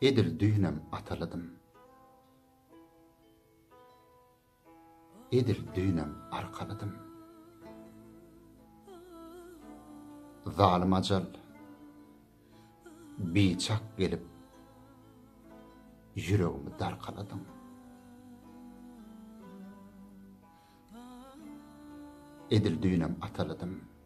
Edil düýnem atalydym. Edil düýnem arkalydym. Zalym ajal biçak gelip ýüregimi darkaladyň. Edil düýnem atalydym.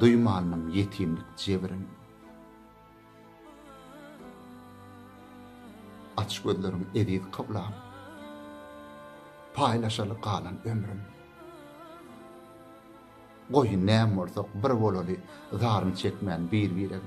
Duýmandyň ýetimlik jebrin. Aç gözlerin eziz kyblam. Paýlaşaly galan ömrüm. Goý, näm bolsak bir bolaly Zaryny çekmän bir-birem.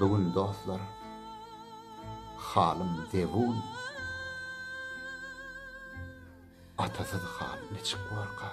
Bu gün dostlar Halym zebun Atasyz hal niçik borka.